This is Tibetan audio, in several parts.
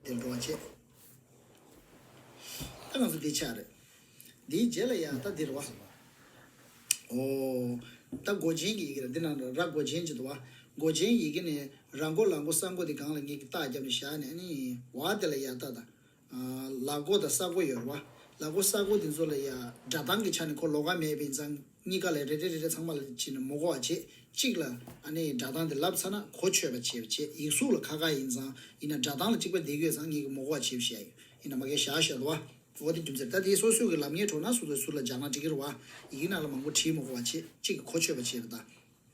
དེ་འགྲོ་བ་བྱེད། ད་ང་ཚོ་འདི་ཆགས་རེད། འདིའི་རྗེས་ལ་ཡང་ད་འདི་རུ་བ། ཨོ། ད་མགོ་རྗེན་གྱི་ཡི་གེ་རེད་འདི་ན་ར་མགོ་རྗེན་ཅིག་འདུག་བ། མགོ་རྗེན་ཡི་གེ་ནས་ར་མགོ་ལ་མགོ་ས་མགོ་འདི་གང་ལ་ངེས་ཀྱི་རྟགས་རྒྱབ་ནས་བཞག་ནས་ནི་བ་དེ་ལ་ཡང་ད་ད། ལ་མགོ་དང་ས་མགོ་ཡོད་རེད་བ། ལ་མགོ་ས་མགོ་འདི་ཚོ་ལ་ཡང་སྒྲ་གདངས་ཀྱི་ཆ་ནས་ཁོ་ལོ་ག་མེད་པ་ཡིན་ཙང། གཉིས་ཀ་ལས་རེ་རེ་རེ་རེ་ཚང་མ་ལ་བྱིན་ནས་མོ་གོ་བ་བྱེད། གཅིག་ལ། ཨ་ནེ་ཡིས་སྒྲ་གདངས་དེ་ལབ་ཚར་ན་གོ་ཆོད་པ་བྱེད་པ་བྱེད་ཡིག་གཟུགས་ལ་ཁ་ཁ་ཡིན་ཙང་ཡིན་ན་སྒྲ་གདངས་ལ་གཅིག་པ་འདེགས་ཡོད་ཙང་ངེད་ཀྱིས་མོ་གོ་བ་བྱེད་བྱས་ཡོད་ཡིན་ན་མ་གས་ཞག་ཞོད་བ། འོ་དེ་རྒྱུ་མཚན་ད་དེ་སོ་སོའི་གི་ལབ་ངེས་གྲོགས་ན་སོ་སོའི་ཟུར་ལ་སྦྱར་ན་འགྲིག་གི་རོ་བ། ཡིག་ནག་ལ་མང་པོ་བྲིས་མོ་གོ་བ་བྱེད་གཅིག་གི་གོ་ཆོད་པ་བྱེད་པ་ད།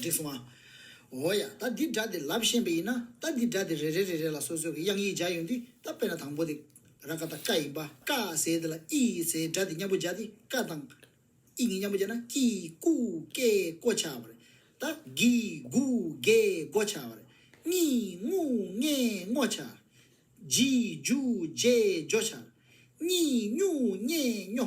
འགྲིག་སོང་ཨ། འོ་ཡ། ད་འདི་སྒྲ་དེ་ལབ་ཤེས་པ་ཡིན་ན། ད་འདི་སྒྲ་དེ་རེ་རེ་རེ་རེ་ལ་སོ་སོའི་གི་དབྱངས་ཡིག་སྦྱར་ཡོང་དུས་ད་དཔེར་ན་དང་པོ་དེ། ར་ཀ་དང་ཀ་ཡིན་པ། ཀ་ཟེར་དེ་ལ་ཨི་ཟེར་སྒྲ་དེ་མཉམ་པོ་སྦྱར་ཏེ་ཀ་དང། ཨི་གཉིས་མཉམ་པོ་སྦྱར་ན་ཀི་ཀུ་ཀེ་ཀོ་ཆགས་པ་རེད། ད་གི་གུ་གེ་གོ་ཆགས་པ་རེད། ངི་ངུ་ངེ་ངོ་ཆགས། ཇི་ཇུ་ཇེ་ཇོ་ཆགས། སྙི་སྙུ་སྙེ་སྙོ།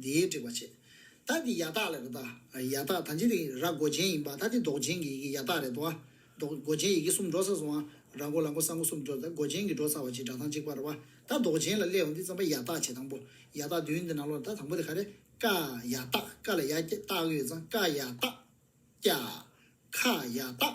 འདིའི་སྒྲིག་པ་བྱེད། ད་འདི་ཡ་ཐག་ལ་རེད་ད། ཡ་ཐག་ད་འཇིག་རིང་ར་མགོ་ཅན་ཡིན་པ་ད་འདི་མདོག་ཅན་གྱི་ཡི་གེ་ཡ་ཐག་རེད་དོ། མདོག་མགོ་ཅན་ཡི་གེ་གསུམ་འགྲོ་ས་སོང་ང། ར་མགོ་ལ་མགོ་ས་མགོ་གསུམ་འགྲོ་ད་མགོ་ཅན་གྱི་འགྲོ་ཚར་བ་ཅིག་སྒྲ་གདངས་གཅིག་པར་བ། ད་མདོག་ཅན་ལ་སླེ་འོང་འདི་རྩམ་པ་ཡ་ཐག་བྱེད་དང་པོ། ཡ་ཐག་བདུན་འདི་ནང་ལོགས་ད་དང་པོ་དེ་ག་རེད། ཀ། ཡ་ཐག་ཀ་ལ་ཡ། ཏག་ཡོད་ཙང་ཀ་ཡ་ཏག། ཀྱ། ཁ་ཡ་ཏག།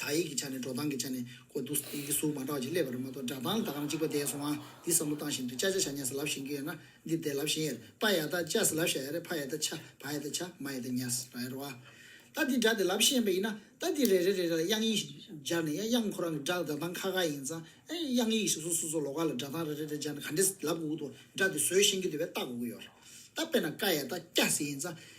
དག་ཡིག་གི་ཆ་ནས་འགྲོ་སྟངས་ཀྱི་ཆ་ནས་གོ། དུ་ཡིག་གི་གཟུགས་མ་འདྲ་བ་ཅིག་སླེབས་པ་རེད་མ་གཏོགས་སྒྲ་གདངས་དག་རམ་གཅིག་པ་འདས་སོང་ཨ། འདི་བསམ་བློ་བཏང་བཞིན་དུ་ཅ་ཅ་ཞྭ་ཉྭ་ཟེར་ལབ་བཞིན་གྱི་ཡོད་ན། འདི་འདས་ལབ་བཞིན་ཡ་རེད་པ་ཡ་ད་ཅ་ཟེར་ལབ་ཞྭ་ཡ་རེད་ཕ་ཡ་ད་ཆ་བ་ཡ་ད་ཆ་མ་ཡ་ད་ཉྭ་ཟེར་ར་ཡ་རོ་ཨ། ད་འདི་སྒྲ་དེ་ལབ་བཞིན་ཡིན་པ་ཡིན་ན། ད་འདི་རེ་རེ་རེ་རེ་ལ་དབྱངས་ཡིག་ཞིག་སྦྱར་ནས་ཡ་དབྱངས་ཁོ་རང་གི་སྒྲ་སྒྲ་གདངས་ཁ་ཁ་ཡིན་ཙང་ཨེ། དབྱངས་ཡིག་ཞིག་སོ་སོ་སོ་ལོ་ཀ་ལ་སྒྲ་གདངས་རེ་རེ་རེ་སྦྱར་ནས་ག་འདྲེ་ལབ་དགོས་ཀྱི་འདུག་སྒྲ་དེ་བཟོས་བཞིན་གྱི་འདུག་པས་བལྟ་དགོས་ཀྱི་ཡོད་རེད། ད་དཔེར་ན་ཀ་ཡ་ད་སྐྱ་ཟེར་ཡིན་ཙང།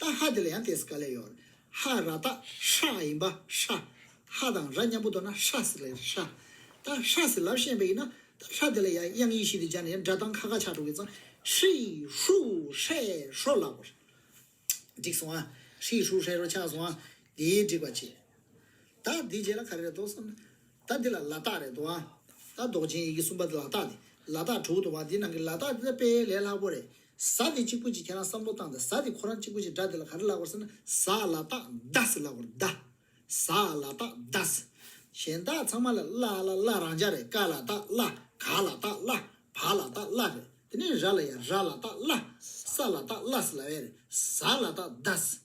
ཏཱ་ཧ་དེ་ལ་ཡང་ཏེས་ཀ་ལས་ཡོར་ཧ་ར་ཏཱ་ཧྲ་ཨ་ཡིན་པ་ཧྲ་ཧ་དང་ར་མཉམ་པོ་དོར་ན་ཧྲ་སི་ལས་ཧྲ་ཏཱ་ཧྲ་སི་ལབ་ཤེས་པ་ཡིན་ན་ཏཱ་ཧྲ་དེ་ལ་ཡང་དབྱངས་ཡིག་བཞི་དུ་སྦྱར་ནས་སྒྲ་གདངས་ཁ་ཁ་ཆག་འགྲོ་གི་ཙང་ཧྲི་ཧྲུ་ཧྲེ་ཧྲོ་ལབ་བར་འགྲིག་སོང་ཨ། ཧྲི་ཧྲུ་ཧྲེ་ཧྲོ་ཆགས་སོང་ཨ། དེའི་འགྲིག་པ་ཅི། ད་འདི་རྗེས་ལ་ག་རེ་རེད་དོ་བསམ་ན། ད་འདི་ལ་ལ་དྭགས་རེད་དོ་ཨ། ད་འདོགས་ཅན་ཡི་གེ་གསུམ་པ་ལ་དྭགས་དེ་ལ་དྭགས་དྲུག་དུ་བ་འདི་ནང་གི་ལ་དྭགས་འདི་ད་དཔེ་ལས་ལྷག་པོ་རེད། བཟའ་དེ་གཅིག་པུ་གཅིག་ཁྱེད་རང་བསམ་བློ་བཏང་དང་བཟའ་དེ་ཁོ་རང་གཅིག་པུ་གཅིག་སྒྲ་དེ་ལ་ག་རེ་ལགས་པར་ཟེར་ན་བཟའ་ལ་སྟག་བཟའ་ཟེར་ལགས་པར་བཟའ་བཟའ་ལ་སྟག་བཟའ། གཞན་དག་ཚང་མ་ལ་བླ་ལ་བླ་རང་འཇགས་རེད་ཀ་ལ་སྟག་བླ་ག་ལ་སྟག་བླ་བ་ལ་སྟག་བླ་རེད་དེ་ནས་ར་ལ་ཡང་ར་ལ་སྟག་བླ་ས་ལ་སྟག་བླ་ཟེར་ལ་བས་རེད་བཟའ་ལ་སྟག་བཟའ།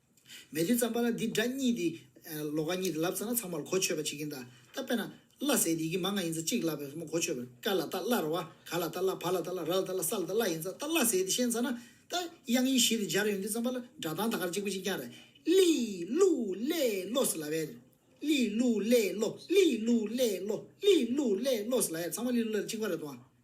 མེ་དུས་ཙམ་པ་ན་འདི་འདྲ་གཉིས་དེ། ལོ་ག་གཉིས་དེ་ལབ་ཙམ་ན་ཚང་མར་གོ་ཆོད་པ་བྱེད་ཀྱིན་ད། ད་དཔེར་ན། བླ་ཟེར་དེ་ཡིག་མ་ལྔ་ཡིན་ཙང་གཅིག་ལབ་པས་མོ་གོ་ཆོད་པ། ཀ་ལ་ད་བླ་ར་བ། ག་ལ་ད་བླ་བ་ལ་ད་བླ་ར་ལ་ད་བླ་ས་ལ་ད་བླ་ཡིན་ཙང་ད་བླ་ཟེར་དེ་ཤེས་ཙམ་ན། ད། དབྱངས་ཡིག་བཞི་དེ་སྦྱར་ཡོང་དུས་ཙམ་པ་ལ་སྒྲ་གདངས་ད་གར་གཅིག་པུ་གཅིག་རྐྱང་རེད། གླི། གླུ། གླེ། གློ་སི་ལ་བས། གླི། གླུ། གླེ། གློ། གླི། གླུ། གླེ། གློ། གླི། གླུ། གླེ། གློ་སི་ལ་ཡས་ཚང་མ་གླི་གླུ་གླེ་ལ་གཅིག་པ་རེད་དོ།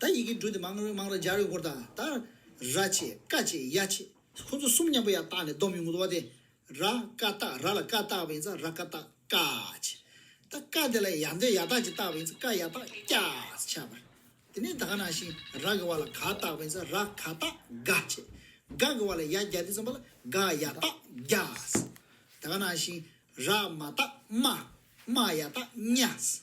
ད་ཡི་གེ་འབྲུ་དེ་མང་རེ་མང་རེ་སྦྱར་ཡོང་སྐོར་དང་ད། ར་ཆེ། ཀ་ཆེ། ཡ་ཆེ། ཁོ་ཚོ་གསུམ་མཉམ་པོ་ཡར་བཏགས་ནས་བསྡོམས་ཡོང་གི་འདུག་བ་དེ། ར་ཀ་བཏགས་ར་ལ་ཀ་བཏགས་པ་ཡིན་ཚ་ར་ཀ་བཏགས་ཀ་ཆེ། ད་ཀ་དེ་ལ་ཡ་འདོད་ཡ་བཏགས་ཅིག་བཏགས་པ་ཡིན་ཚ་ཀ་ཡ་བཏགས་སྐྱ་ཆེ། དེ་ནས་ད་ག་ནང་བཞིན་ར་གི་བ་ལ་ག་བཏགས་པ་ཡིན་ཚ་ར་ག་བཏགས་ག་ཆེ། ག་གི་བ་ལ་ཡ་བརྒྱ་དེ་ཙམ་པ་ལ་ག་ཡ་བཏགས་བརྒྱ། ད་ག་ནང་བཞིན་ར་མ་བཏགས་རྨ། རྨ་ཡ་བཏགས་རྨྱ།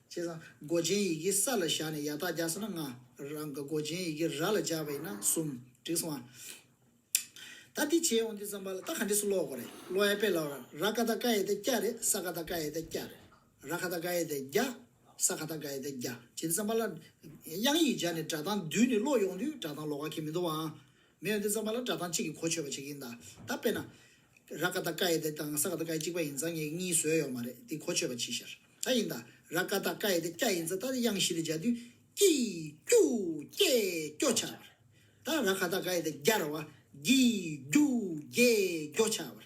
བྱས་ཙང་མགོ་ཅན་ཡི་གེ་ས་ལ་བཞག་ནས་ཡ་ཐག་རྒྱག་སོང་ན་ལྔ། རང་གི་མགོ་ཅན་ཡི་གེ་ར་ལ་བཞག་པ་ཡིན་ན་གསུམ། འགྲིག་སོང་ཨ། ད་དེ་བྱས་འོང་དུས་རྩམ་པ་ལ་རྟགས་ག་འདྲས་སུ་ཀློག་དགོས་རེད་ཀློག་ཡ་དཔེ་ལ་བར་ར་ཀ་ད་ཀ་ཡེ་ད་ཀྱ་རེད་ས་ཀ་ད་ཀ་ཡེ་ད་ཀྱ་རེད། ར་ཁ་ད་ཀ་ཡེ་ད་རྒྱ། ས་ཁ་ད་ཀ་ཡེ་ད་རྒྱ་བྱས་འདུག་རྩམ་པ་ལ་དབྱངས་ཡིག་སྦྱར་ནས་སྒྲ་གདངས་བསྡུས་ནས་ཀློག་ཡོང་དུས་སྒྲ་གདངས་ལོག་ག་ཁེལ་མི་འདུག་བ་ཨང། མི་ཡོན་ཏེ་རྩམ་པ་ལ་སྒྲ་གདངས་གཅིག་གིས་གོ་ཆོད་པ་བྱེད་ཀྱི་ཡིན་ད། ད་དཔེར་ན། ར་ཀ་ད་ཀ་ཡེ་དེ་དང་ས་ཀ་ད་ཀ་ཡེ་གཅིག་པ་ཡིན་ཙང་ངེད་ཀྱིས་གཉིས་བཟོས་ཡོད་མ་རེད་དེ་གོ་ཆོད་པ་གྱིས་ཤར། ད་ཡིན་ད། ར་ཀ་ད་ཀ་ཡེ་དེ་སྐྱ་ཡིན་ཙང་ད་དེ་དབྱངས་བཞི་རེ་སྦྱར་དུས། ཀྱི། ཀྱུ། ཀྱེ། ཀྱོ། ཆ། བར། ད་ར་ཁ་ད་ཀ་ཡེ་དེ་རྒྱ་ར་བ། གྱི། གུ། གྱེ། གོ། ཆ། བར།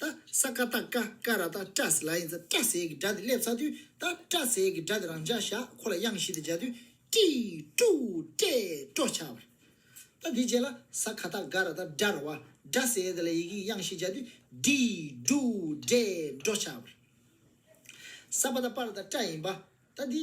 ད་ས་ཀ་ད་ཀ་ཀ་ར་ད་ཀྲ་སི་ལ་ཡིན་ཚ་ཀྲ་སེ་གི་སྒྲ་དེ་སླེབས་ཚར་དུས་ད་ཀྲ་སེ་གི་སྒྲ་དེ་རང་འཇགས་བཞག་ཁོ་ལ་དབྱངས་བཞི་དེ་སྦྱར་དུས་ཀྲི་ཀྲུ་ཀྲེ་ཀྲོ་ཆགས་པར། ད་དེའི་རྗེས་ལ་ས་ཁ་ད་ག་ར་ད་སྒྲ་ར་བ་སྒྲ་སེ་དེ་ལ་ཡི་གེ་ཀྱི་དབྱངས་བཞི་སྦྱར་དུས་ཀྲི་ཀྲུ་ཀྲེ་ཀྲོ་ཆགས་པར། ས་པ་ད་པ་ར་ད་ཀྲ་ཡིན་པ། ད་དེའི།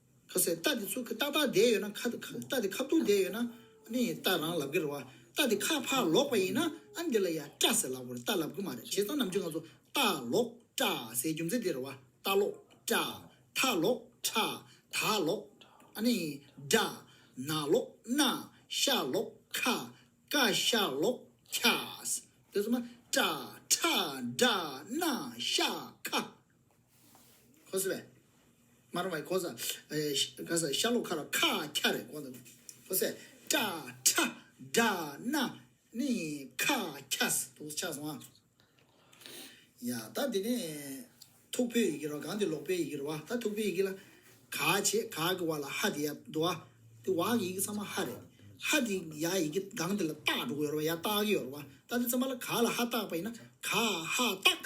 ཁ་ཟས་རྟ་དེ་ཚུར་ཁ་ཏག་ཏག་བསྡད་ཡོད་ན་ཁ་རྟ་དེ་ཁ་བརྡུང་བསྡད་ཡོད་ན་ཨ་ནི་རྟ་རང་ལབ་གི་རེད་བ། རྟ་དེ་ཁ་ཕག་ལོག་པ་ཡིན་ན་ཨ་ནི་དེ་ལ་ཡ་སྐྲ་ཟེར་ལབ་གོ་རེད་རྟ་ལབ་གི་མ་རེད་བྱས་ཙང་ནམ་རྒྱུན་ང་ཚོ་རྟ་ལོག་སྐྲ་ཟེར་རྒྱུ་མཛད་དེ་རེད་བ་རྟ་ལོག་སྐྲ། ཐ་ལོག་ཁྲ། ད་ལོག། ཨ་ནི། སྒྲ། ན་ལོག་སྣ། ཤ་ལོག་ཁ། ཀ་ཤ་ལོག་ཁྱ། དེ་ཚོ་མ། སྐྲ། ཁྲ། སྒྲ། སྣ། ཤ། ཁ། ཁོ་སི་བས། མར་བའི་ཁོ་སི། ག་ས་ཤ་ལོ་ཁ་ར་ཁ་ཁྱ་རེ་ཁོ་སི། ཁོ་སི། ཀྲ་ཁྲ་དྲ་ན་ནི་ཁ་ཁྱ་སི་དུག་ཆགས་སོང་ཨ། ཡ་ད་དེ་ནས་ཐུག་པོའི་ཡི་གེ་རོ་གང་དེ་ལོག་པའི་ཡི་གེ་རོ་བ་ད་ཐུག་པོའི་ཡི་གེ་ལ། ག་བྱེད་ག་གི་བ་ལ་ཧ་དེ་ཡ་དུ་ཨ། དེ་བ་གི་ཡི་གེ་ཚང་མ་ཧ་རེད། ཧ་དེ་ཡ་ཡི་གེ་གང་དེ་ལ་སྟག་འགྲོ་གི་ཡོད་རོ་བ་ཡ་སྟག་གི་ཡོད་རོ་བ་ད་དེ་ཚང་མ་ལ་ག་ལ་ཧ་སྟག་པ་ཡིན་ན་ག་ཧ་སྟག།